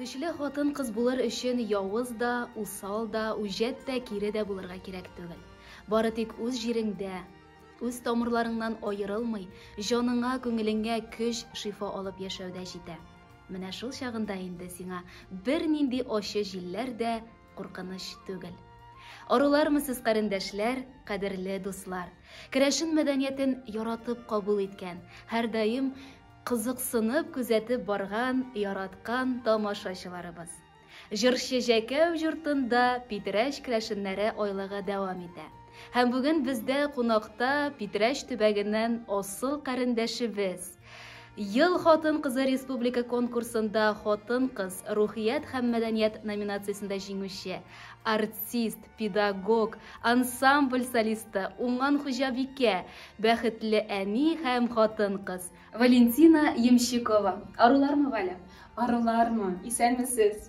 Көчле хатын-кыз булыр өчен явыз да, усал да, үҗәт тә, кире дә булырга кирәк түгел. Бары тик үз җиреңдә, үз тамырларыңнан аерылмый, җаныңа, күңелеңә көч, шифа алып яшәүдә җитә. Менә шул чагында инде сиңа бернинди ачы җилләр дә, куркыныч түгел. Арулармысыз, карендәшләр, кадерле дуслар. Керәшен мәдәниятен яратып кабул иткән, һәрдаим кызыксынып күзәтеп барган, яраткан тамашачыларыбыз. Җырчы Җәкәү йортында Питрәч керәшеннәре айлыгы дәвам итә. Һәм бүген бездә кунакта Питрәч төбәгеннән асыл карендәшебез, Ел хатын-кызы республика конкурсында хатын-кыз, рухият һәм мәдәният номинациясендә җиңүче, артист, педагог, ансамбль солисты, уңган хуҗабикә, бәхетле әни һәм хатын-кыз. Валентина Ямщикова. Арулармы, Валя? Арулармы, исәнмесез!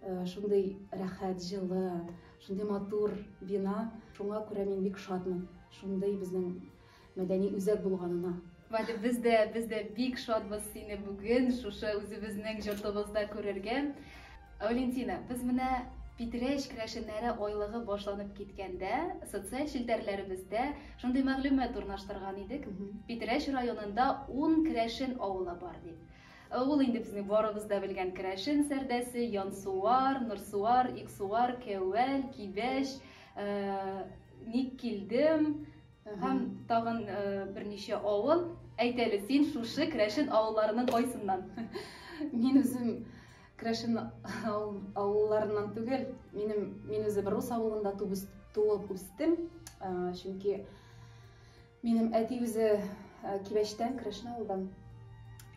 Шундый рәхәт, җылы, шундый матур бина. Шуңа күрә мин бик шатмын шундый безнең мәдәни үзәк булганына. Валя, без дә, без дә бик шатбыз сине бүген шушы үзебезнең йортыбызда күрергә. Валентина, без менә Питрәч керәшеннәре айлыгы башланып киткәндә, социаль челтәрләребездә шундый мәгълүмат урнаштырган идек. Питрәч районында 10 керәшен авылы бар дип. Ә ул инде безнең барыбыз да белгән керәшен сәрдәсе, Янсуар, Нурсуар, Иксуар, Кәвәл, Кибәч, Ник килдем һәм тагын берничә авыл. Әйт әле, син шушы керәшен авылларының кайсыннан? Мин үзем керәшен авылларыннан түгел, минем мин үзем рус авылында туып үстем, чөнки Минем әти үзе Кибәчтән, Крәшен авылдан.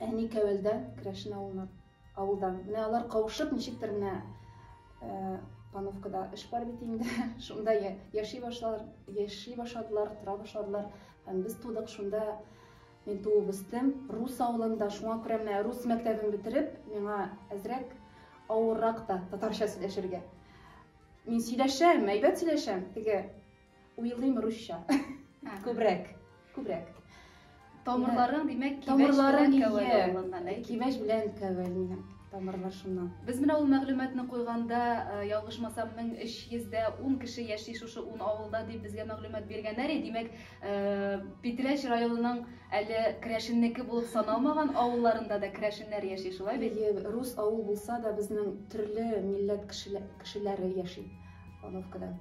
Әни Кәвәлдән, Крәшен авылына авылдан. Менә алар кавышып, ничектер менә Пановкада эш бар бит инде. Шунда яши башлар, яши башладылар, тора башладылар. Һәм без тудык шунда. Мин туып үстем. Рус авылында, шуңа күрә менә рус мәктәбен бетереп, миңа әзрәк авыррак та татарча сөйләшергә. Мин сөйләшәм, әйбәт сөйләшәм. Теге Уйлыйм русча. Күбрәк. Күбрәк. Тамырларың, димәк, кибәч белән кәвәле. Кибәч белән кәвәле тамырлар шуннан. Без менә ул мәгълүматны куйганда, э, ялгышмасам, 1310 кеше яши шушы 10 авылда дип безгә мәгълүмат биргәннәр. Димәк, э, Питрәч районының әле керәшеннеке булып саналмаган авылларында да керәшеннәр яши, шулай бит? Әйе, рус авыл булса да, безнең төрле милләт кешеләре яши Павловкада.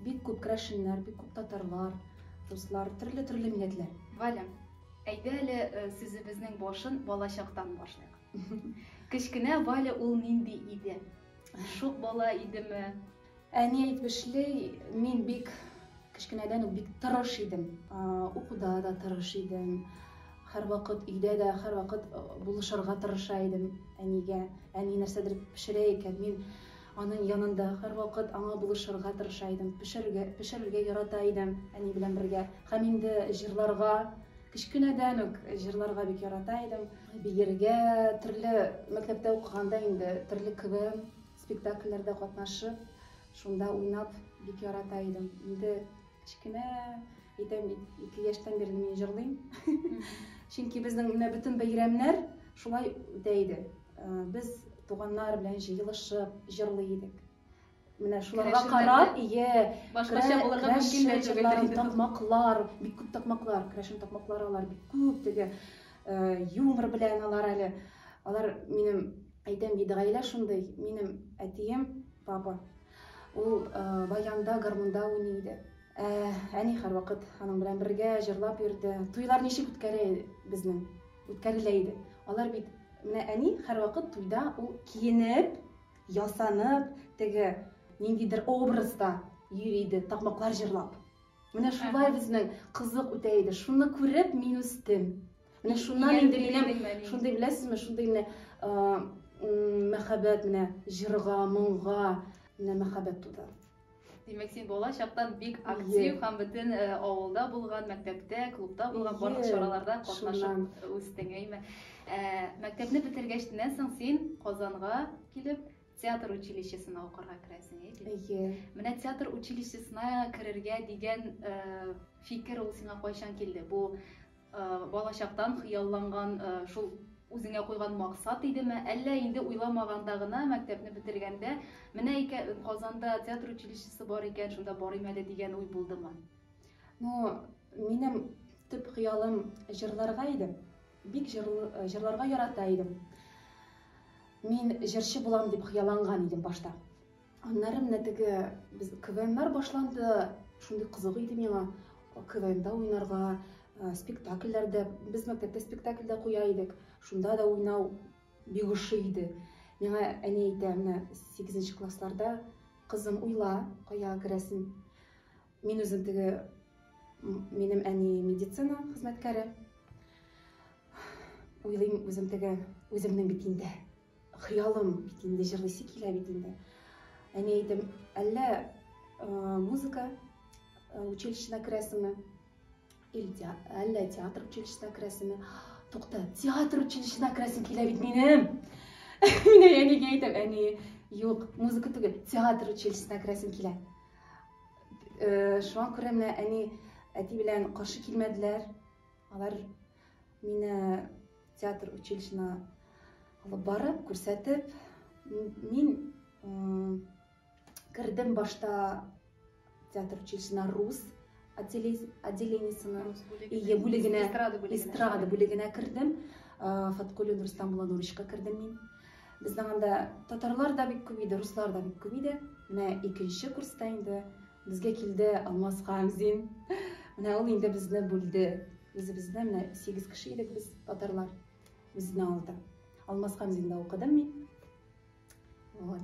Бик күп керәшеннәр, бик күп татарлар, руслар, төрле-төрле милләтләр. Валя, әйдә әле сүзебезнең башын балачактан башлыйк. Кечкенә Валя ул нинди иде? Шук бала идеме? Әни әйтмешли, мин бик кечкенәдән үк бик тырыш идем. Укуда да тырыш идем. Һәрвакыт өйдә дә һәрвакыт булышырга тырыша идем әнигә. Әни нәрсәдер пешерә икән, мин Аның янында һәрвакыт аңа булышырга тырыша идем, пешерергә, пешерергә ярата идем әни белән бергә. Һәм инде җырларга, кечкенәдән үк җырларга бик ярата идем. Биергә, төрле мәктәптә укыганда инде төрле КВМ спектакльләрдә катнашып, шунда уйнап бик ярата идем. Инде кечкенә әйтәм бит, ике яшьтән бирле мин җырлыйм. Чөнки безнең менә бөтен бәйрәмнәр шулай үтә иде. Без туганнар белән җыелышып җырлый идек. Менә шуларга карап, ие, башкача булырга мөмкин дә түгел. Такмаклар, бик күп такмаклар, крәшен такмаклар алар бик күп теге юмор белән алар әле. Алар минем әйтәм бит, гаилә шундый. Минем әтием, папа, ул баянда, гармунда уйный иде. Ә, әни һәрвакыт аның белән бергә җырлап йөрде. Туйлар ничек үткәрә иде безнең? Үткәрелә иде. Алар бит менә әни һәрвакыт туйда ул киенеп, ясанып, теге ниндидер образда йөри иде, такмаклар җырлап. Менә шулай безнең кызык үтә иде. Шуны күреп мин үстем. Менә шуннан инде минем шундый беләсезме, шундый менә мәхәббәт менә җырга, моңга менә мәхәббәт туды. Димәк, син бала чактан бик актив һәм бөтен э, авылда булган, мәктәптә, клубта булган барлык чараларда катнашып үстең, әйме. Э, мәктәпне бетергәчтеннән соң син Казанга килеп, театр училищесына укырга керәсең, әйе. Менә театр училищесына керергә дигән э, фикер ул сиңа кайчан килде? Бу Балачактан хыялланган, шул үзеңә куйган максат идеме, әллә инде уйламаганда гына, мәктәпне бетергәндә, менә икә, Казанда театр училищесы бар икән, шунда барыйм әле дигән уй булдымы? Ну, минем төп хыялым җырларга иде. Бик җырларга ярата идем. Мин җырчы булам дип хыялланган идем башта. Аннары менә теге без КВНнар башланды. Шундый кызык иде миңа КВНда уйнарга, э, спектакльләрдә. Без мәктәптә спектакль дә куя идек. Шунда да уйнау бик ошый иде. Миңа әни әйтә, менә 8 классларда кызым уйла, кая керәсен. Мин үзем теге минем әни медицина хезмәткәре. Уйлыйм үзем теге үземнең бит инде. Хыялым бит инде, җырлыйсы килә бит инде. Әни әйтем, әллә музыка училищесына керәсеңме? Или әллә театр училищесына керәсеңме? Тукта, театр училищесына керәсем килә бит минем. Мин әнигә әйтәм, әни, юк, музыка түгел, театр училищесына керәсем килә. Шуңа күрә менә әни әти белән каршы килмәделәр. Алар Мине театр училищена алып барып, күрсәтеп, мин кердем башта театр училищена рус отделениесенә, ие бүлегенә, эстрада бүлегенә кердем. Фаткулин Рустам Булановичка кердем мин. Безнең анда татарлар да бик күп иде, руслар да бик күп иде. Менә икенче курста инде Безгә килде Алмаз Хамзин. Менә ул инде безне бүлде. Үзебезне менә 8 кеше идек без татарлар. Безне алды. Алмаз Хамзинда укыдым мин. Вот.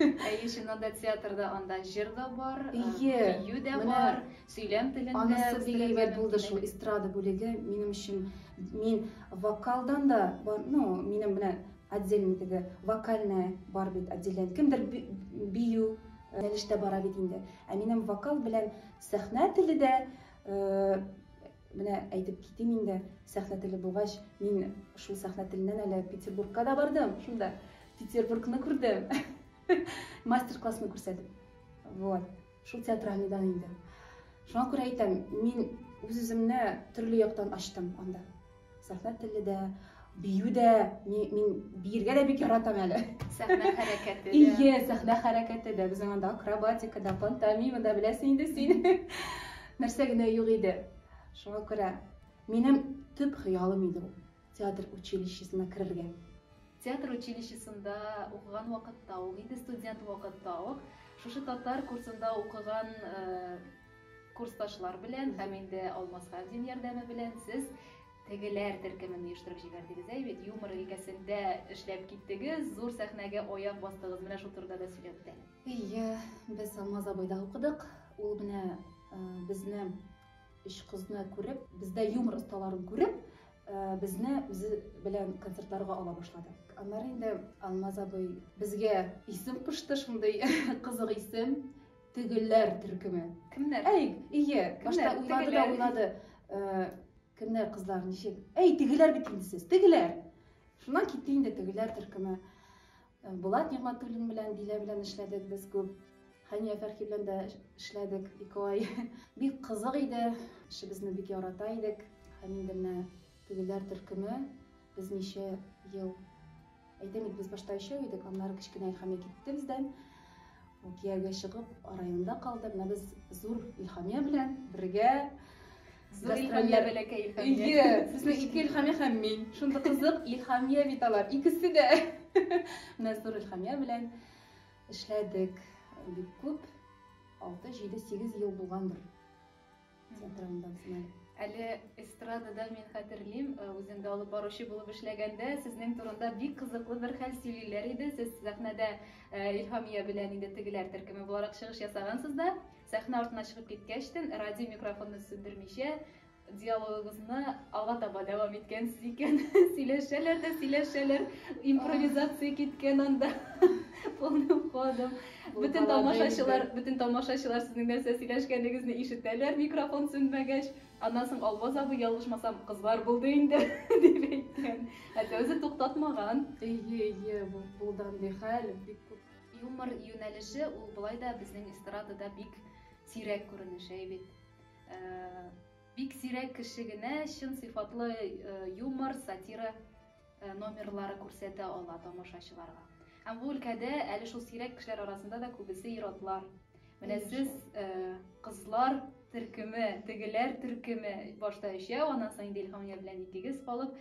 Әйе, чыннан да театрда анда җыр да бар, бию дә бар, сөйләм телендә. Анысы бик әйбәт булды шул эстрада бүлеге минем өчен. Мин вокалдан да, ну, минем белән отдельно теге вокальная бар бит отделение. Кемдер бию Рәвештә бара бит инде. Ә минем вокал белән сәхнә теле дә, менә әйтеп китим инде, сәхнә теле булгач, мин шул сәхнә теленнән әле Петербургка да бардым, шунда Петербургны күрдем. Мастер-классны күрсәтеп. Вот. Шул театральныйдан инде. Шуңа күрә әйтәм, мин үз-үземне төрле яктан ачтым анда. Сәхнә теле дә, бию дә, мин биергә дә бик яратам әле. Сәхнә хәрәкәте дә. Ие, сәхнә хәрәкәте дә. Безнең анда акробатика да, пантомима да беләсең инде син. Нәрсә генә юк иде. Шуңа күрә минем төп хыялым иде ул театр училищесына керергә. Театр училищесында укыган вакытта ук, инде студент вакытта ук, шушы татар курсында укыган э, Курсташлар белән һәм инде Алмасгамзин ярдәме белән сез тегеләр төркемен оештырып җибәрдегез, әй бит, юмор өлкәсендә эшләп киттегез, зур сәхнәгә аяк бастыгыз, менә шул турыда да сөйләп үтә әле. Әйе, без Алмаз абыйда укыдык, ул менә безне, өч кызны күреп, бездә юмор осталарын күреп, безне үзе белән концертларга ала башлады. Аннары инде Алмаз абый безгә исем кушты, шундый кызык исем, Тегеләр төркеме. Кемнәр? Әй, ие, башта уйлады да уйлады. Э, кемнәр кызлар ничек? Әй, тегеләр бит инде сез. Тегеләр. Шуннан китте инде тегеләр төркеме. Э, Булат Нигъмәтуллин белән Дилә белән эшләдек без күп. Хәния Фәрхи белән дә эшләдек ике ай. Бик кызык иде. Эшебезне бик ярата идек. Һәм инде менә тегеләр төркеме без ничә ел Әйтәм бит, без башта өчәү идек, аннары кечкенә Илхамия китте бездән. Ул кияүгә чыгып, районда калды. Менә без зур Илхамия белән бергә Зур Илхамия бәләкәй Илхамия. Әйе, безнең ике Илхамия һәм мин. Шундый кызык Илхамия бит алар, икесе дә. Менә зур Илхамия белән эшләдек бик күп. 6, 7, 8 ел булгандыр. Әле эстрадада мин хәтерлим, э, үзем дә алып баручы булып эшләгәндә, сезнең турында бик кызыклы бер хәл сөйлиләр иде. Сез сәхнәдә э, Илһамия белән инде тегеләр төркеме буларак чыгыш ясагансыз да, сәхнә артына чыгып киткәчтен, радио микрофонны сүндермичә, диалогыгызны алга таба дәвам иткәнсез икән. сөйләшәләр дә сөйләшәләр. Импровизация киткән анда. Полным ходом. Бөтен тамашачылар, бөтен тамашачылар сезнең нәрсә сөйләшкәнегезне ишетәләр, микрофон сүнмәгәч. Аннан соң Албаз абый ялгышмасам, кызлар булды инде дип әйткән. Әтә үзе туктатмаган. Ие, ие, булды андый хәл. Бик күп. Юмор юнәлеше ул болай да безнең эстрадада бик сирәк күренеш, әй бит. Бик сирәк кеше генә чын сыйфатлы юмор, сатира номерлары күрсәтә ала тамашачыларга. Һәм бу өлкәдә әле шул сирәк кешеләр арасында да күбесе ир-атлар. Менә сез кызлар төркеме, тегеләр төркеме башта өчәү, аннан соң инде Илһамия белән икегез калып,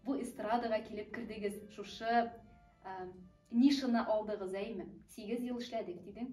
бу эстрадага килеп кердегез. Шушы нишаны алдыгыз, әйме? Сигез ел эшләдек, дидең.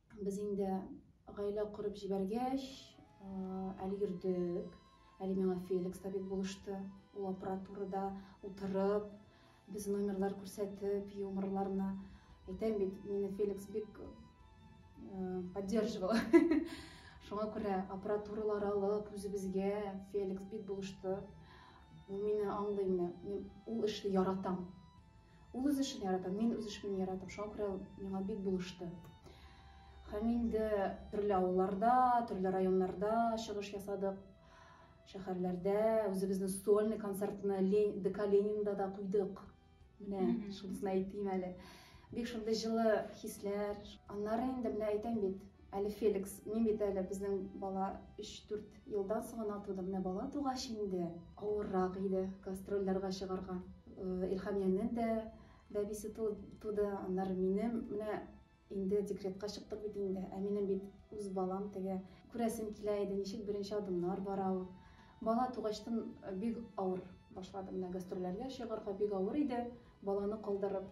Без инде гаилә корып җибәргәч, әле йөрдек, әле миңа Феликс табиб булышты. Ул аппаратурада утырып, без номерлар күрсәтеп, юморларны әйтәм бит, мине Феликс бик поддерживал. Шуңа күрә аппаратуралар алып, үзебезгә Феликс бик булышты. Ул мине аңлый, мин ул эшне яратам. Ул үз эшен ярата, мин үз эшемне яратам, шуңа күрә ул миңа бик булышты. Һәм инде төрле авылларда, төрле районнарда чыгыш ясадык. Шәһәрләрдә үзебезнең сольный концертны Лен, ДК Ленинда да куйдык. Менә шунысын әйтим әле. Бик шундый җылы хисләр. Аннары инде менә әйтәм бит, Әле Феликс, мин бит әле безнең бала өч-дүрт елдан соң гына туды, менә бала тугач инде. Авыррак иде гастрольләргә чыгарга. Илһамиянең дә бәбисе туды, аннары минем. Менә инде декретка чыктык бит инде. Ә минем бит үз балам теге. Күрәсем килә иде, ничек беренче адымнар бара ул. Бала тугачтын бик авыр башлады. Менә гастрольләргә чыгарга бик авыр иде, баланы калдырып.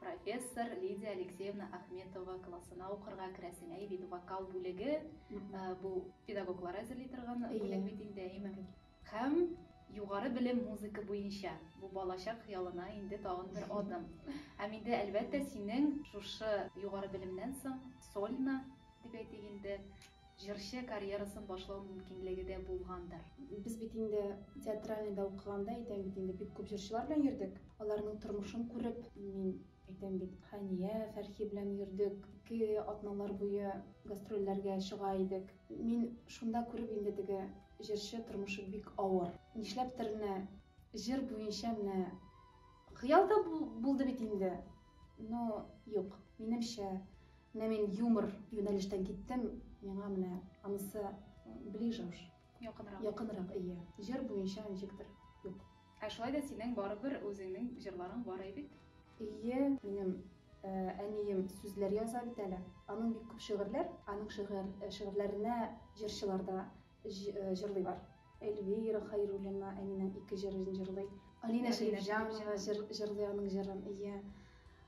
Профессор Лидия Алексеевна Ахметова классына укырга керәсең, әй бит вокал бүлеге, бу педагоглар әзерли торган бүлек бит инде, әйеме? Һәм югары белем музыка буенча, бу балачак хыялына инде тагын бер адым. Һәм инде, әлбәттә, синең шушы югары белемнән соң сольно, дип әйтик инде, Җырчы карьерасын башлау мөмкинлеге дә булгандыр. Без бит инде театральныйда укыганда, әйтәм бит инде, бик күп җырчылар белән йөрдек. Аларның тормышын күреп, мин, әйтәм бит, Хәния, Фәрхи белән йөрдек, ике атналар буе гастрольләргә чыга идек. Мин шунда күреп инде теге җырчы тормышы бик авыр. Нишләптер менә җыр буенча менә хыял да булды бит инде, но юк, минемчә, Менә мин юмор юнәлештән киттем, миңа менә анысы ближе уж. Якынрак. Якынрак, ие. Җыр буенча ничектер юк. Ә шулай да синең барыбер үзеңнең җырларың бар әй бит. Ие, минем әнием сүзләр яза бит әле. Аның бик күп шигырьләр, аның шигырь, шигырьләренә җырчылар да җырлыйлар. Эльвира Хәйруллина әнинең ике җырын җырлый. Алинә Шәрифҗанова җырлый аның җырын, ие.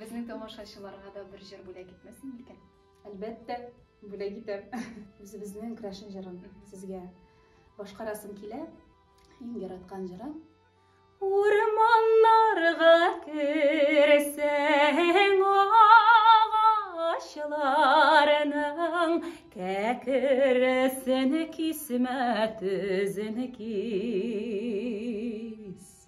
Безнең тамашачыларга да бер җыр бүләк итмәсең микән? Әлбәттә, бүләк итәм. Үзебезнең Крәшен җырын сезгә башкарасым килә. Иң яраткан җырым. Урманнарга керсәң агачларның кәкресен кисмә, төзен кис.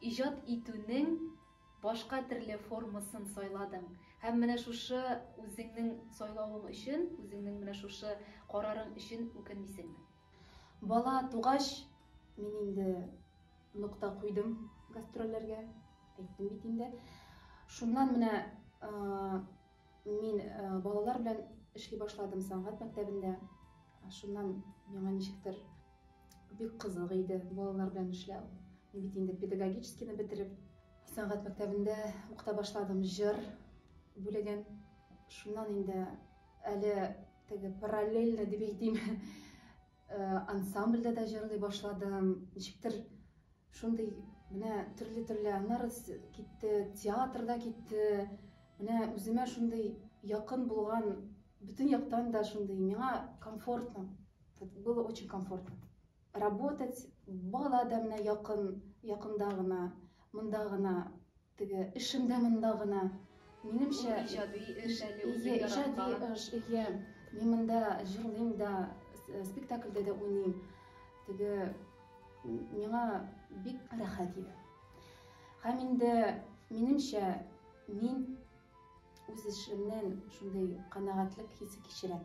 Иҗат итүнең башка терле формасын сайладың һәм менә шушы үзеңнең сайлавың өчен, үзеңнең менә шушы карарың өчен үкенмисеңме? Бала тугач, мин инде нокта куйдым гастрольләргә, әйттем бит инде. Шуннан менә мин балалар белән эшли башладым сәнгать мәктәбендә. Шуннан миңа ничектер Бик кызык иде балалар белән эшләү. Мин бит инде педагогическийны бетереп, сәнгать мәктәбендә укыта башладым, җыр бүлеген. Шуннан инде әле теге параллельно дип әйтим, ансамбльдә дә җырлый башладым. Ничектер шундый менә төрле-төрле, аннары китте, театрда китте. Менә үземә шундый якын булган, бөтен яктан да шундый миңа комфортно. Было очень комфортно работать, бала да менә якын, якында гына, монда гына, теге эшемдә монда гына. Минемчә, иҗади эш әле үзе яраткан. Иҗади эш, иә. Мин монда җырлыйм да, э, спектакльдә дә уйныйм. Теге миңа бик рәхәт иде. Һәм инде минемчә, мин үз эшемнән шундый канәгатьлек хисе кичерәм.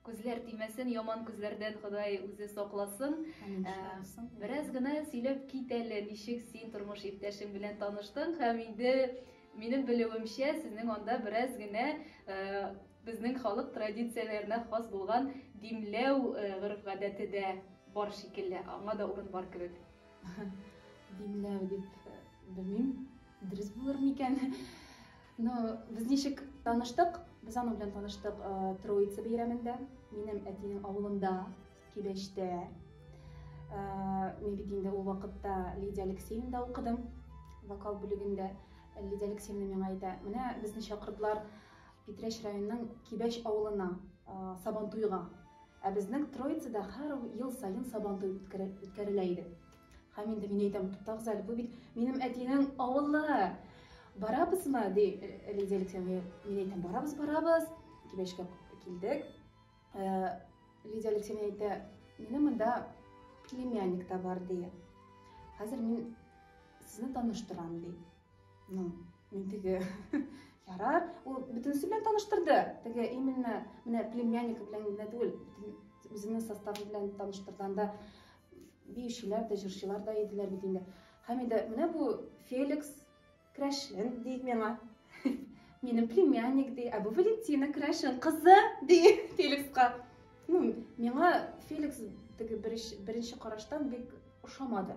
Күзләр тимәсен яман күзләрдән ходай үзе сакласын. Бераз гына сөйләп кит әле, ничек син тормыш иптәшең белән таныштың һәм инде минем белүемчә сезнең анда бераз генә безнең халык традицияләренә хас булган димләү гореф гадәте дә бар шикелле, аңа да урын бар кебек. Димләү дип белмим, дөрес булыр микән? Ну, без ничек таныштык? Без аның белән таныштык э, Троица бәйрәмендә, минем әтинең авылында, Кибәчтә. Э, мин бит инде ул вакытта Лидия Алексеевнада укыдым, вокал бүлегендә. Лидия Алексеевна миңа әйтә, менә безне чакырдылар Питрәч районының Кибәч авылына, э, Сабантуйга. Ә безнең Троицада һәр ел саен Сабантуй үткәрелә иде. Һәм инде мин әйтәм, туктагыз әле, бу бит минем әтинең авылы. Барабызмы, ди Лидия Алексеевна. Мин әйтәм, барабыз, барабыз. Кибәшкә килдек. Э, Лидия Алексеевна әйтә, минем монда племянник та бар, ди. Хәзер мин сезне таныштырам, ди. Ну, мин теге ярар, ул бөтенесе белән таныштырды. Теге именно менә племянник белән генә түгел, үзенең составы белән таныштырганда Биючеләр дә, җырчылар да иделәр бит инде. Һәм инде менә бу Феликс Крәшен ди миңа. Минем племянник ди, ә бу Валентина Крәшен кызы ди Феликска. Ну, миңа Феликс теге беренче караштан бик ошамады.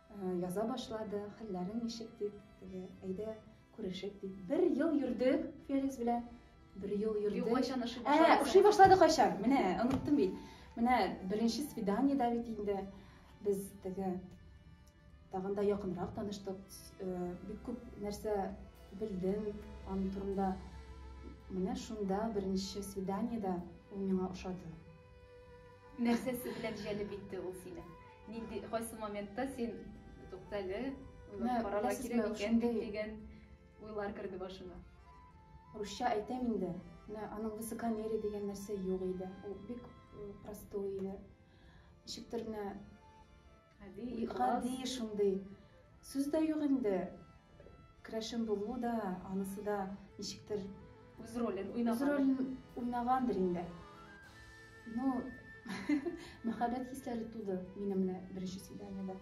Яза башлады, хәлләрең ничек дип, теге, әйдә күрешик дип. Бер ел йөрдек Феликс белән. Бер ел йөрдек. Юк, кайчан ошый башлады? Ә, ошый башлады кайчан? Менә, оныттым бит. Менә беренче свиданиедә бит инде без теге тагын да якынрак таныштык. Э, бик күп нәрсә белдем аның турында. Менә шунда беренче свиданиедә ул миңа ошады. Нәрсәсе белән җәлеп итте ул сине? Нинди, кайсы моментта син туктале, уйлап карарга кирәк икән бит дигән уйлар керде башыңа? Русча әйтәм инде, менә аның высокомерие дигән нәрсә юк иде, ул бик простой иде. Ничектер менә Гади, ихлас. Гади шундый. Сүз дә юк инде. Крәшен булу да, анысы да ничектер. Үз ролен уйнаган. Үз ролен уйнагандыр инде. Ну, мәхәббәт хисләре туды минем менә беренче свиданиедә.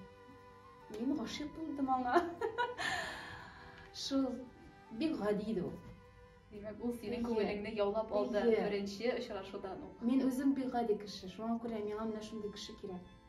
Мин гашыйк булдым аңа. Шул бик гади иде ул. Димәк, ул синең күңелеңне яулап алды беренче очрашудан ук. Мин үзем бик гади кеше, шуңа күрә миңа менә шундый кеше кирәк.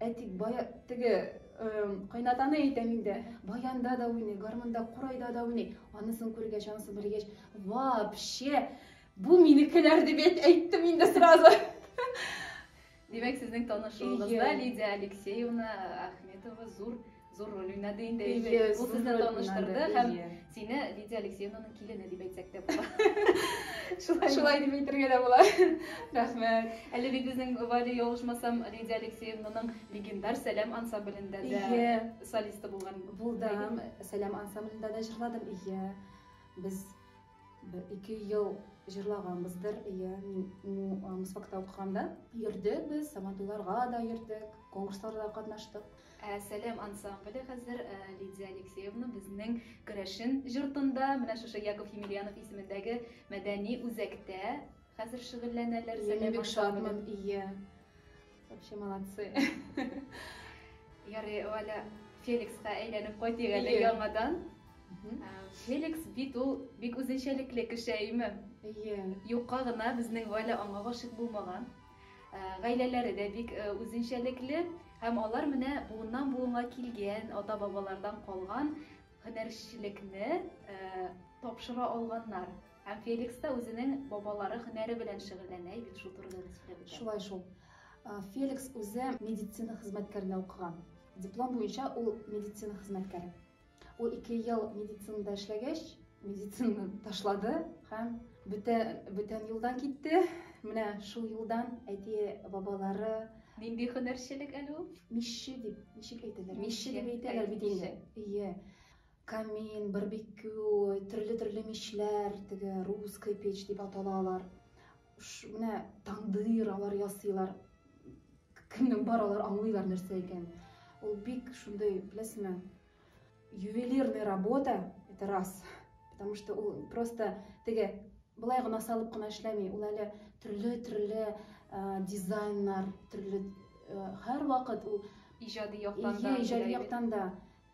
Ә тик бая, теге кайнатаны әйтәм инде, баянда да уйный, гармунда, курайда да уйный. Анысын күргәч, анысын белгәч, вообще, бу минекеләр дип әйттем инде сразу. Димәк, сезнең танышуыгызда Лидия Алексеевна Ахметова зур Зур роль уйнады инде. Ул сезне таныштырды һәм сине Лидия Алексеевнаның килене дип әйтсәк тә була. Шулай. Шулай дип әйтергә дә була. Рәхмәт. Әле бит безнең Валя ялгышмасам Лидия Алексеевнаның легендар Сәлам ансамблендә дә солисты булган. Булдым. Сәлам ансамблендә дә җырладым. Ие. Без Бер ике ел җырлаганбыздыр, ия, мин ну, Мусфакта укыганда. Йөрдек без, Сабантуйларга да йөрдек, конкурсларда катнаштык. Ә Сәләм ансамбле хәзер Лидия Алексеевна безнең Керәшен җортында, менә шушы Яков Емельянов исемендәге мәдәни үзәктә хәзер шөгыльләнәләр. Ия, мин бик шатмын, ия. Вообще молодцы. Ярый, Валя, Феликска әйләнеп кайтыйк әле яңадан. Феликс бит ул бик үзенчәлекле кеше, әйеме? Әйе. Юкка гына безнең Валя аңа гашык булмаган. Гаиләләре дә бик үзенчәлекле һәм алар менә буыннан буынга килгән, ата-бабалардан калган һөнәрчелекне тапшыра алганнар. Һәм Феликс та үзенең бабалары һөнәре белән шөгыльләнә бит шул турыда да сөйләп үтә. Шулай шул. Феликс үзе медицина хезмәткәренә укыган. Диплом буенча ул медицина хезмәткәре. Ул ике ел медицинада эшләгәч, медицинаны ташлады һәм бөтә бүтән юлдан китте. Менә шул юлдан әти бабалары Нинди һөнәрчелек әле ул? Мишче дип ничек әйтәләр? Мишче дип әйтәләр бит инде. Ие. Камин, барбекю, төрле-төрле мичләр, теге русская печь дип атала алар. Ш, менә тандыр алар ясыйлар. Кемнең бар алар аңлыйлар нәрсә икән. Ул бик шундый, беләсезме, ювелирная работа, это раз. Потому что ул просто теге былай гына салып кына эшләми, ул әле төрле-төрле э, дизайннар, төрле э, һәр вакыт ул иҗади яктан да, иҗади яктан да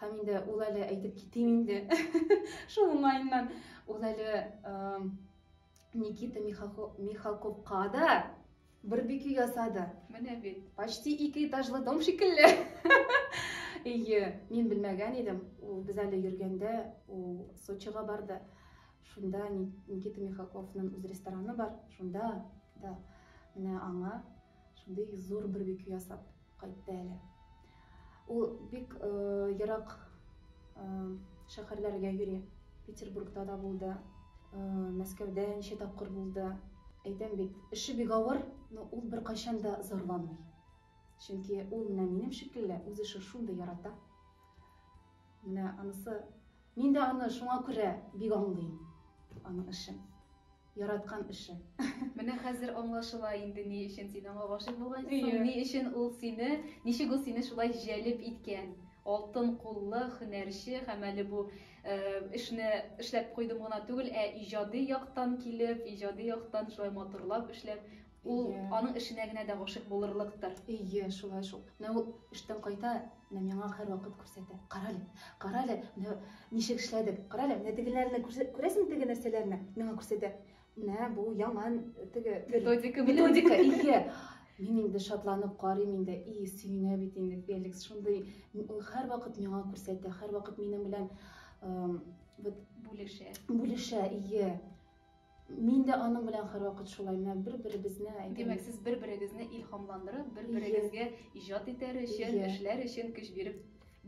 Һәм инде ул әле әйтеп китим инде. Шул уңаеннан ул әле Никита Михалковка да бер бике ясады. Менә бит. Почти ике этажлы дом шикелле. Ие, мин белмәгән идем. Ул без әле йөргәндә ул Сочига барды. Шунда Никита Михалковның үз рестораны бар. Шунда да менә аңа Шундый зур бер бөке ясап кайтты әле. Ул бик ерак шәһәрләргә йөри. Петербургта да булды, Мәскәүдә ничә тапкыр булды. Әйтәм бит, эше бик авыр, но ул беркайчан да зарланмый. Чөнки ул менә минем шикелле, үз эшен шундый ярата. Менә анысы. Мин дә аны шуңа күрә бик аңлыйм. Аның эшен. Яраткан эше. Менә хәзер аңлашыла инде ни өчен син аңа гашыйк булгансың, ни өчен ул сине, ничек ул сине шулай җәлеп иткән. Алтын куллы һөнәрче һәм әле бу эшне эшләп куйдым гына түгел, ә иҗади яктан килеп, иҗади яктан шулай матурлап эшләп, Ул аның эшенә генә дә гашыйк булырлыктыр. Ие, шулай шул. Менә ул эштән кайта, менә миңа һәрвакыт күрсәтә. Карале, карале, менә ничек эшләдек. Карале, менә тегеләрне күрәсеңме, теге нәрсәләрне? Миңа күрсәтә. Менә бу яңа теге методика, методика, ие. Мин инде шатланып карыйм инде, и, сөенә бит инде Феликс. Шундый ул һәрвакыт миңа күрсәтә, һәрвакыт минем белән вот бүлешә. Бүлешә, ие. Мин дә аның белән һәрвакыт шулай, менә бер-беребезне әйтәбез. Димәк, сез бер-берегезне илһамландырып, бер-берегезгә иҗат итәр өчен, эшләр өчен көч биреп,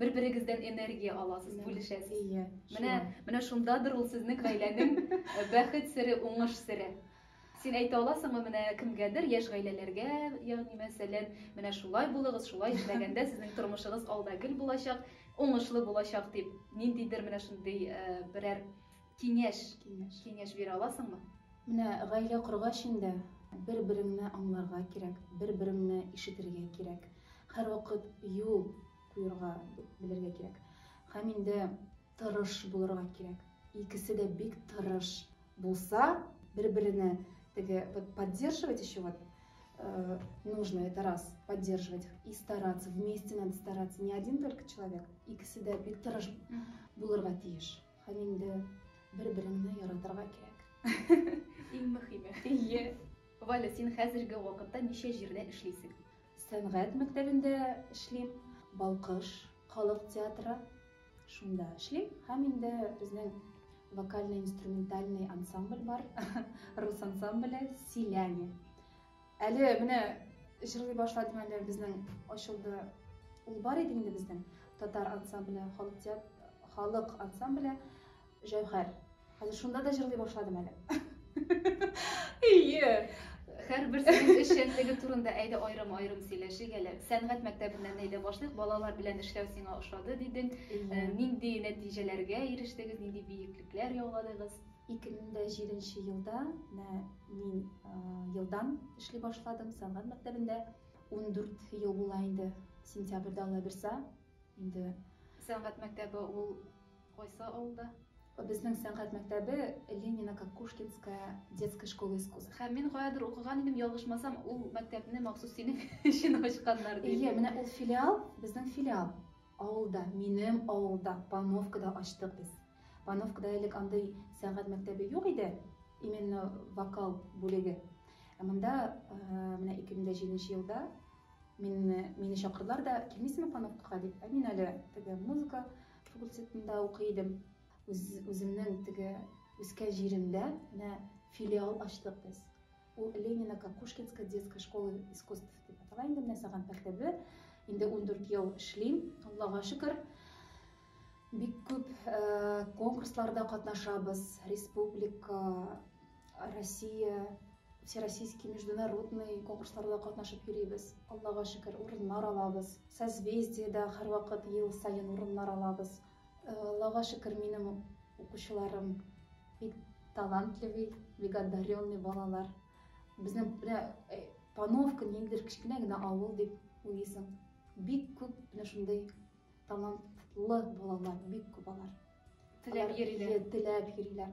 бер-берегездән энергия аласыз, бүлешәсез. Ие. Менә, менә шундадыр ул сезнең гаиләнең э, бәхет сере, уңыш сере. Син әйтә аласыңмы менә кемгәдер, яшь гаиләләргә, ягъни мәсәлән, менә шулай булыгыз, шулай эшләгәндә сезнең тормышыгыз алда гел булачак, уңышлы булачак дип, ниндидер менә шундый э, берәр Киңәш. Киңәш. Киңәш бирә аласыңмы? Менә гаилә коргач инде, бер-береңне аңларга кирәк, бер-береңне ишетергә кирәк. Һәрвакыт юл куерга белергә кирәк. Һәм инде тырыш булырга кирәк. Икесе дә бик тырыш булса, бер-берене теге вот поддерживать еще вот э, нужно, это раз, поддерживать и стараться, вместе надо стараться, не один только человек, икесе дә бик тырыш булырга тиеш. Һәм инде бер-береңне яратырга кирәк. Иң мөхиме. Ие. Валя, син хәзерге вакытта ничә җирдә эшлисең? Сәнгать мәктәбендә эшлим, Балкыш халык театры, шунда эшлим. Һәм инде безнең вокальный-инструментальный ансамбль бар, рус ансамбле Селяне. Әле менә җырлый башладым әле безнең ачылды. Ул бар иде инде безнең татар ансамбле, халык театр, халык ансамбле Җәүһәр. Хәзер шунда да җырлый башладым әле. Ие. Һәрбер сүз эшчәнлеге турында әйдә аерым-аерым сөйләшик әле. Сәнгать мәктәбеннән әйдә башлыйк. Балалар белән эшләү сиңа ошады дидең. Нинди нәтиҗәләргә ирештегез, нинди биеклекләр яуладыгыз? 2007 нче елда менә мин елдан эшли башладым сәнгать мәктәбендә. Ундүрт ел була инде, сентябрьдә Алла бирса, инде. Сәнгать мәктәбе ул кайсы авылда? Безнең сәнгать мәктәбе Ленино Кокушкинская детская школа искусств. Һәм мин каядыр укыган идем, ялгышмасам, ул мәктәпне махсус синең өчен ачканнар дип. Әйе, менә ул филиал, безнең филиал. Авылда, минем авылда Пановка да ачтык без. Пановкада элек андый сәнгать мәктәбе юк иде, именно вокал бүлеге. Ә монда менә 2007 елда мине, мине чакырдылар да, килмисеңме Пановкага дип. Ә мин әле теге музыка факультетында укый идем. Үз, үземнең теге үскән җиремдә менә филиал ачтык без. Ул Ленино-Кокушкинская детская школа искусств дип атала инде, менә саган пәртәбе. Инде ундүрт ел эшлим, Аллага шөкер. Бик күп конкурсларда катнашабыз, республика, Россия, всероссийский, международный конкурсларда катнашып йөрибез. Аллага шөкер, урыннар алабыз. Созвездиеда һәрвакыт ел саен урыннар алабыз. Аллага шөкер, минем укучыларым бик талантливый, бик одаренный балалар. Безнең менә э, Пановка ниндидер кечкенә генә авыл дип уйлыйсың. Бик күп менә шундый талантлы балалар, бик күп алар. Теләп йөриләр. Теләп йөриләр.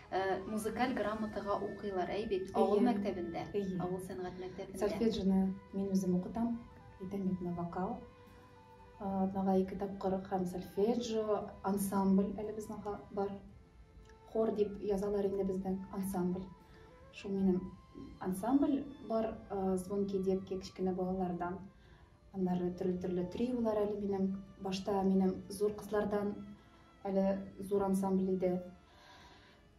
Э, музыкаль грамотага укыйлар, әй бит, авыл мәктәбендә, авыл сәнгать мәктәбендә. Сольфеджины мин үзем укытам, әйтәм бит, вокал. Атнага ике тапкыр һәм сольфеджио, ансамбль әле безнең бар. Хор дип язалар инде бездән, ансамбль. Шул минем ансамбль бар, э, звонки детки, кечкенә балалардан. Аннары төрле-төрле триолар әле минем. Башта минем зур кызлардан Әле зур ансамбль иде.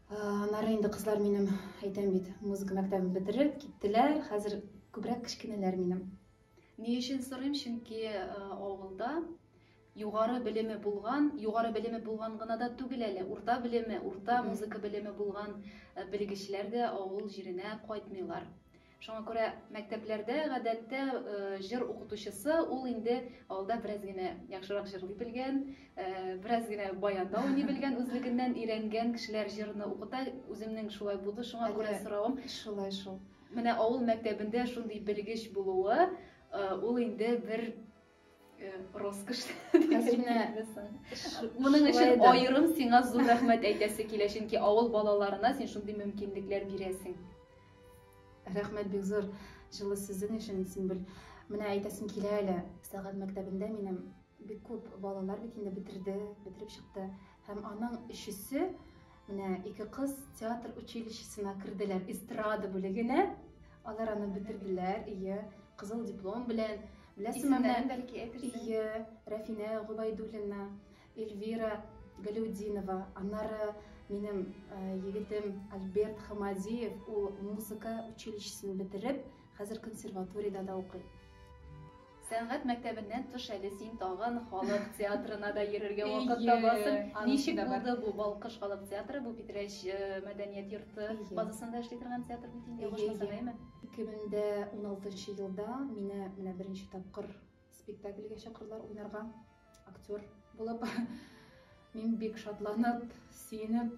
Аннары инде кызлар минем, әйтәм бит, музыка мәктәбен бетереп киттеләр. Хәзер күбрәк кечкенәләр минем. Ни өчен сорыйм? Чөнки авылда югары белеме булган, югары белеме булган гына да түгел әле, урта белеме, урта музыка белеме булган белгечләр дә авыл җиренә кайтмыйлар. Шуңа күрә мәктәпләрдә, гадәттә, җыр укытучысы, ул инде алда бераз генә яхшырак җырлый белгән, бераз генә баянда уйный белгән, үзлегеннән өйрәнгән кешеләр җырны укыта. Үземнең шулай булды, шуңа күрә соравым. Шулай шул. Менә авыл мәктәбендә шундый белгеч булуы, ул инде бер Роскош. Моның өчен аерым сиңа зур рәхмәт әйтәсе килә, чөнки авыл балаларына син шундый мөмкинлекләр бирәсең. Рәхмәт бик зур җылы сүзең өчен, Симбел. Менә әйтәсем килә әле, сәгать мәктәбендә минем бик күп балалар бит инде бетерде, бетереп чыкты. Һәм аның өчесе менә ике кыз театр училищесына керделәр, эстрада бүлегенә. Алар аны бетерделәр, ие, кызыл диплом белән. Беләсеңме, бәлки әйтерсең. Ие, Рәфинә Губайдуллина, Эльвира Галиудинова, аннары минем егетем Альберт Хамадиев, ул музыка училищесын бетереп, хәзер консерваториядә дә укый. Сәнгать мәктәбеннән тыш әле син тагын халык театрына да йөрергә вакыт табасың. Ничек булды бу Балкыш халык театры? Бу Питрәч мәдәният йорты базасында эшли торган театр бит инде, ялгышмасам, әйеме? 2016 нчы елда мине менә беренче тапкыр спектакльгә чакырдылар уйнарга, актер булып. Мин бик шатланып, сөенеп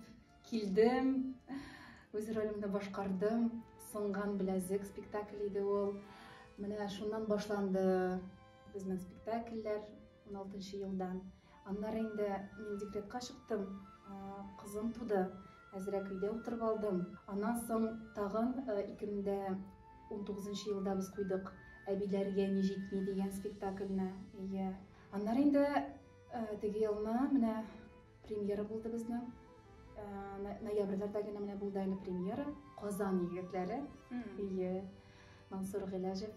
килдем. Үз ролемне башкардым. Сынган беләзек спектакль иде ул. Менә шуннан башланды безнең спектакльләр 16 елдан. Аннары инде мин декретка чыктым, кызым туды. Әзрәк өйдә утырып алдым. Аннан соң тагын 2019 елда без куйдык Әбиләргә ни җитми дигән спектакльне. Әйе. Аннары инде теге елны менә премьера булды безнең. Ноябрьләрдә генә менә булды әле премьера. Казан егетләре. Әйе. Мансур Гыйләҗев.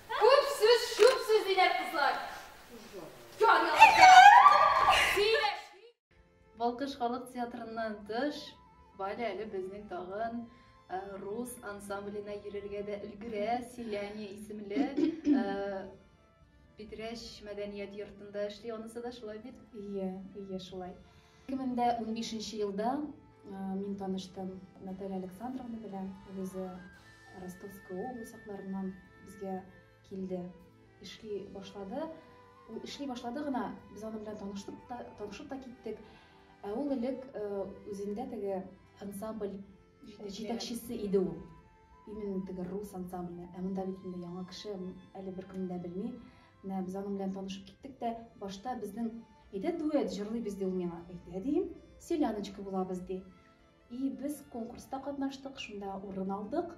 Күп сүз, чүп сүз диләр кызлар. Җан ялата. Сөйләшми. Балкыш халык театрыннан тыш, Валя әле безнең тагын рус ансамбленә йөрергә дә өлгерә, Селяне исемле Питрәч мәдәният йортында эшли, анысы да шулай бит? Ие, ие, шулай. Ике мең дә унбишенче елда мин таныштым Наталья Александровна белән. Ул үзе Ростовская область якларыннан безгә килде, эшли башлады. Ул эшли башлады гына, без аның белән таныштык та, танышып та киттек. Ә ул элек үзендә теге ансамбль Җитәкчесе иде ул. Именно теге рус ансамбле. Ә монда бит инде яңа кеше, әле беркемне дә белми. Менә без аның белән танышып киттек тә, башта безнең, әйдә дуэт җырлыйбыз, ди ул миңа. Әйдә, дим, селяночка булабыз, ди. И без конкурста катнаштык, шунда урын алдык.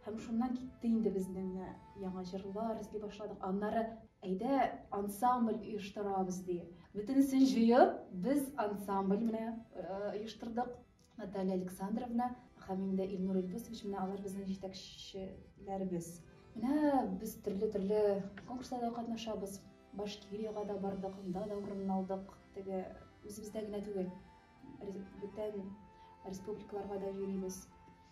Һәм шуннан китте инде безнең менә яңа җырлар эзли башладык. Аннары әйдә ансамбль оештырабыз, ди. Бөтенесен җыеп, без ансамбль менә оештырдык. Наталья Александровна һәм инде Илнур Илдусович, менә алар безнең җитәкчеләребез. Менә без төрле-төрле конкурсларда катнашабыз. Башкириягә дә бардык, анда да урын алдык. Теге үзебездә генә түгел, бүтән республикаларга да йөрибез.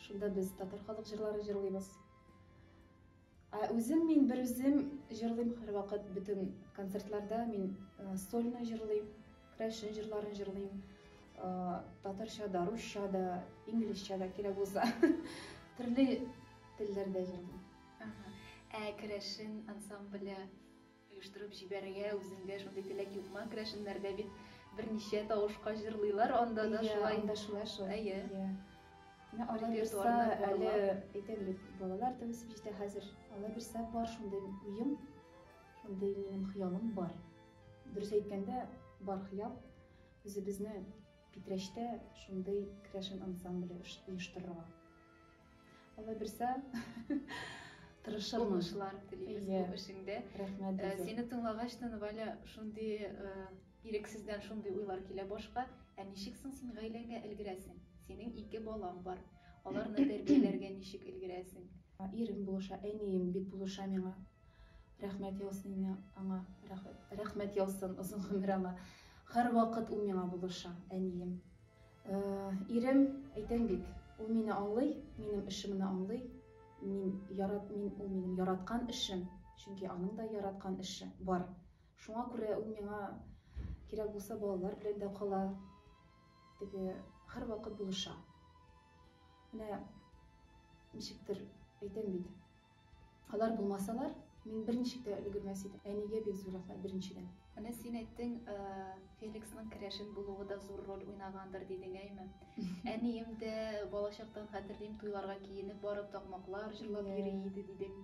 Шунда без татар халык җырлары җырлыйбыз. Ә үзем мин бер үзем җырлыйм һәрвакыт бөтен концертларда мин э, сольно җырлыйм, крәшен җырларын җырлыйм. Э, татарча да, русча да, инглизчә да кирәк булса. Төрле телләрдә җырлыйм. Ага. Ә крәшен ансамбле Оештырып җибәрергә үзеңдә шундый теләк юкмы? Керәшеннәрдә бит берничә тавышка җырлыйлар, анда да шулай. Әйе, анда шулай шул. Әйе. Менә алла бирса, әле әйтәм бит, балалар да үсеп җитә хәзер. Алла бирса, бар шундый уем, шундый минем хыялым бар. Дөрес әйткәндә, бар хыял үзебезне Питрәчтә шундый керәшен ансамбле оештырырга. Алла бирсә, тырышырмын. Уңышлар телибез бу эшеңдә. Рәхмәт. Э, сине тыңлагач та, Валя, шундый э, ирексездән шундый уйлар килә башка. Ә ничек соң син гаиләңә өлгерәсең? Синең ике балаң бар. Аларны тәрбияләргә ничек өлгерәсең? Ирем булыша, әнием бик булыша миңа. Рәхмәт яусын аңа. Рәхмәт яусын, озын гомер аңа. Һәрвакыт ул миңа булыша, әнием. Ирем, әйтәм бит, ул мине аңлый, минем эшемне аңлый, мин ярат, мин, ул минем яраткан эшем, чөнки аның да яраткан эше бар. Шуңа күрә ул миңа кирәк булса балалар белән дә кала, теге һәрвакыт булыша. Менә ничектер әйтәм бит, Алар булмасалар, мин берничек тә өлгермәс идем. Әнигә бик зур рәхмәт, беренчедән. Менә син әйттең, Феликсның керәшен булуы да зур роль уйнагандыр, дидең, әйме? Әнием дә, балачактан хәтерлим, туйларга киенеп барып, такмаклар җырлап йөри иде, дидең.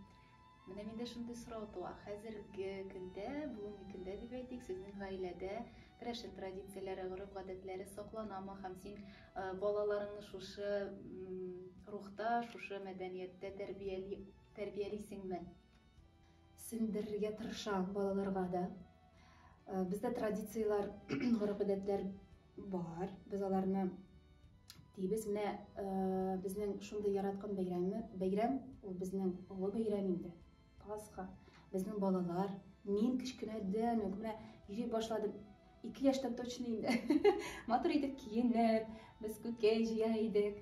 Менә миндә шундый сорау туа, хәзерге көндә, бүгенге көндә дип әйтик, сезнең гаиләдә керәшен традицияләре, гореф-гадәтләре сакланамы һәм син Балаларыңны шушы рухта, шушы мәдәнияттә тәрбияли, тәрбиялисеңме? Сеңдерергә тырышам балаларга да. Бездә традицияләр, гореф-гадәтләр бар. Без аларны дибез. Менә безнең шундый яраткан бәйрәме, бәйрәм, ул безнең олы бәйрәм инде. Пасха, безнең балалар, мин кечкенәдән үк менә йөри башладым. Ике яшьтән точно инде. Матур итеп киенеп, без күкәй җыя идек.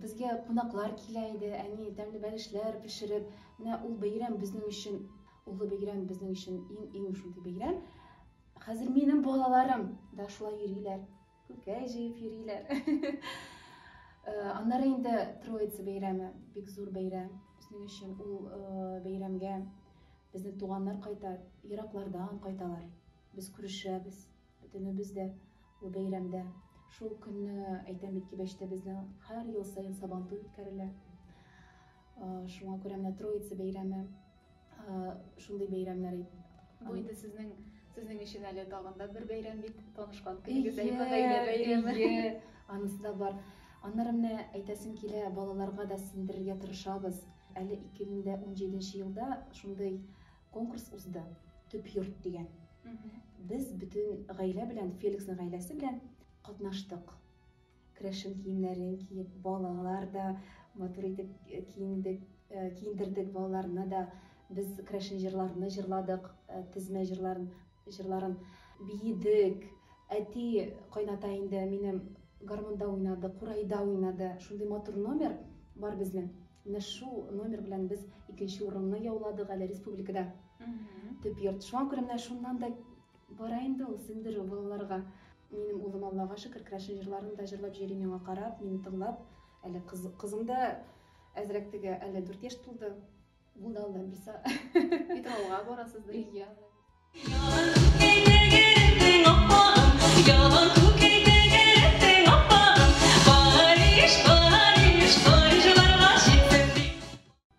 Безгә кунаклар килә иде, әни тәмле бәлешләр пешереп. Менә ул бәйрәм безнең өчен, улы бәйрәм безнең өчен иң-иң шундый бәйрәм. Хәзер минем балаларым да шулай йөриләр. Күкәй җыеп йөриләр. Аннары инде Троица бәйрәме, бик зур бәйрәм. Безнең өчен ул бәйрәмгә безнең туганнар кайта, ераклардан кайталар. Без күрешәбез, бөтенебез дә ул бәйрәмдә. Шул көнне, әйтәм бит, Кибәчтә безнең һәр ел саен Сабантуй үткәрелә. Шуңа күрә менә Троица бәйрәме Шундый бәйрәмнәр ит. Бу инде сезнең сезнең өчен әле тагын да бер бәйрәм бит, танышкан көнегез әйбә гаилә бәйрәме. Ие, анысы да бар. Аннары менә әйтәсем килә, балаларга да сеңдерергә тырышабыз. Әле 2017 елда шундый конкурс узды, Төп йорт дигән. Без бөтен гаилә белән, Феликсның гаиләсе белән катнаштык. Крәшен киемнәрен киеп, балалар да матур итеп киендек, киендердек балаларны да. Без крәшен җырларны җырладык, тезмә җырларын, җырларын биедек. Әти, кайната инде минем гармунда уйнады, курайда уйнады. Шундый матур номер бар безнең. Менә шул номер белән без икенче урынны яуладык әле республикада. Төп йорт. Шуңа күрә менә шуннан да Бара инде ул сеңдерү балаларга. Минем улым, Аллага шөкер, крәшен җырларын да җырлап җөри миңа карап, мине тыңлап. Әле кызым да әзрәк теге, әле дүрт яшь тулды. Ул да Аллам бирса. Питрауга барасыз бергә.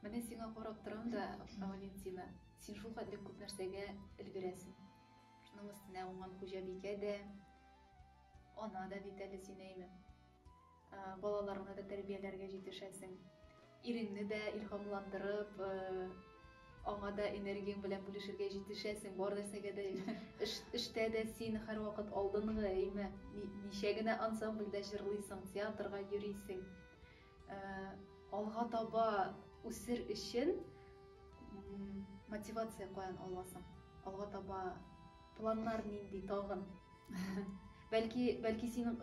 Менә сиңа карап торам да, Валентина. Син шулкадәр күп нәрсәгә өлгерәсең. Шуның өстенә уңган хуҗабикә дә, ана да бит әле син, әйме. Балаларыңны да тәрбияләргә җитешәсең. Иреңне дә илһамландырып, аңа да энергияң белән бүлешергә җитешәсең. Бар нәрсәгә дә эш, эштә дә син һәрвакыт алдынгы, әйме. Ничә генә ансамбльдә җырлыйсың, театрга йөрисең. Алга таба үсер өчен мотивация каян аласың? Алга таба планнар нинди тагын? Бәлки, бәлки син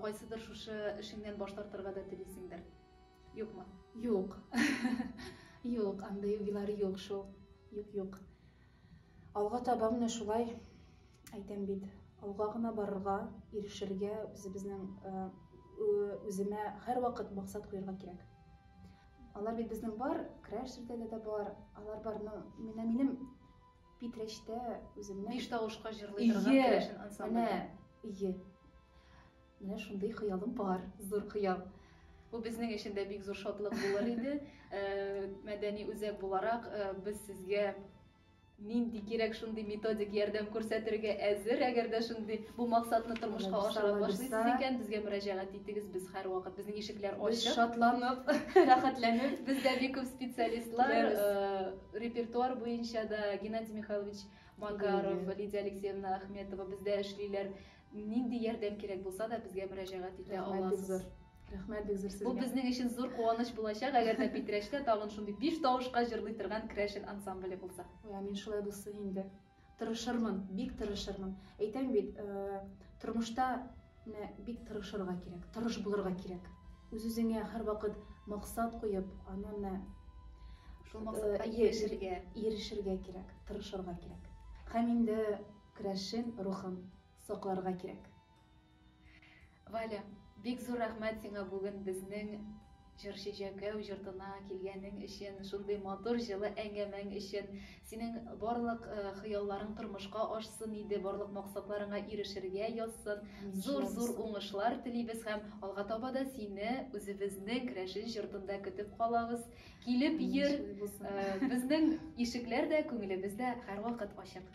кайсыдыр шушы эшеңнән баш тартырга да телисеңдер? Юкмы? Юк. Юк, андый уйлар юк шул. Юк, юк. Алга таба менә шулай, әйтәм бит, алга гына барырга, ирешергә, үзебезнең үземә һәрвакыт максат куярга кирәк. Алар бит безнең бар, краш җирдәге дә бар, алар бар, но менә минем Питрәчтә үземнең биш тавышка җырлый торган крашен ансамбль. Ие. Менә шундый хыялым бар, зур хыял. Бу безнең өчен дә бик зур шатлык булыр иде. Мәдәни үзәк буларак, без сезгә нинди кирәк шундый методик ярдәм күрсәтергә әзер, әгәр дә шундый бу максатны тормышка ашыра башлыйсыз икән, безгә мөрәҗәгать итегез, без һәрвакыт, безнең ишекләр ачык. Без шатланып, рәхәтләнеп. Бездә бик күп специалистлар, репертуар буенча да Геннадий Михайлович Макаров, Лидия Алексеевна Ахметова бездә эшлиләр. Нинди ярдәм кирәк булса да безгә мөрәҗәгать итә аласыз. Рәхмәт бик зур сезгә. Бу безнең өчен зур куаныч булачак, әгәр дә Питрәчтә тагын шундый биш тавышка җырлый торган Крәшен ансамбле булса. Ой, амин шулай булсын инде. Тырышырмын, бик тырышырмын. Әйтәм бит, э, тормышта менә бик тырышырга кирәк, тырыш булырга кирәк. Үз-үзеңә һәрвакыт максат куеп, аны менә шул максатка э, ирешергә, ирешергә кирәк, тырышырга кирәк. Һәм инде Крәшен рухын сакларга кирәк. Валя, бик зур рәхмәт сиңа бүген безнең Җырчы Җәкәү йортына килгәнең өчен, шундый матур җылы әңгәмәң өчен. Синең барлык хыялларың тормышка ашсын иде, барлык максатларыңа ирешергә язсын. Зур-зур уңышлар телибез һәм алга таба да сине үзебезнең Крәшен җортында көтеп калабыз. Килеп йөр, безнең ишекләр дә, күңелебез дә һәрвакыт ачык.